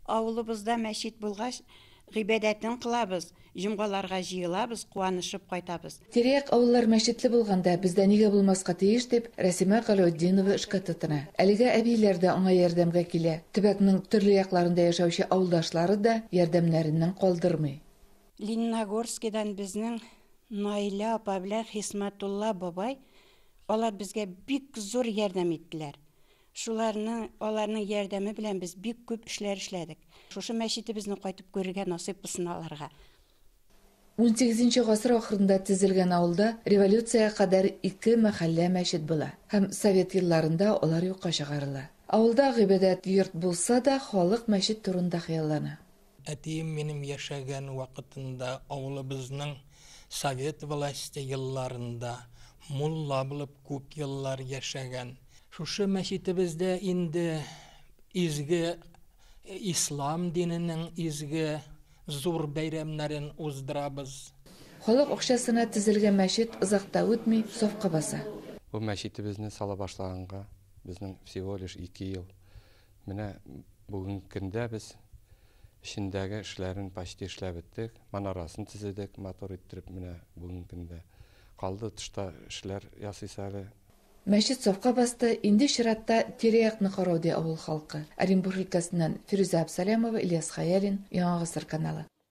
Авылыбызда мәчет булгач, гыйбадәтен кылабыз, җомгаларга җыелабыз, куанышып кайтабыз. Тирә-як авыллар мәчетле булганда, бездә нигә булмаска тиеш, дип, Рәсимә Галәүтдинова эшкә тотына. Әлегә әбийләр дә аңа ярдәмгә килә, төбәкнең төрле якларында яшәүче авылдашлары да ярдәмнәреннән калдырмый. Лениногорскидан безнең Наилә апа белән Хисмәтулла бабай, алар безгә бик зур ярдәм иттеләр. Шуларның, аларның ярдәме белән без бик күп эшләр эшләдек. Шушы мәчетебезне кайтып күрергә насыйп булсын аларга. Унсигезенче гасыр ахырында төзелгән авылда революциягә кадәр ике мәхәллә мәчет була һәм совет елларында алар юкка чыгарыла. Авылда гыйбадәт йорт булса да, халык мәчет турында хыяллана. Әтием минем яшәгән вакытында авылыбызның совет власте елларында мулла булып күп еллар яшәгән. Шушы мәчетебездә инде изге ислам диненең изге зур бәйрәмнәрен уздырабыз. Халык акчасына төзелгән мәчет озак та үтми сафка баса. Бу мәчетебезне сала башлаганга безнең всего лишь ике ел. Менә бүгенге көндә без эчендәге эшләрен почти эшләп беттек. Манарасын төзедек матур иттереп менә бүгенге көндә. Калды тышта эшләр ясыйсы әле. Мәчет сафка басты, инде чиратта тирә-якны карау, ди авыл халкы. Оренбур өлкәсеннән Фирүзә Абсалямова, Ильяс Хәялин, Яңа гасыр каналы.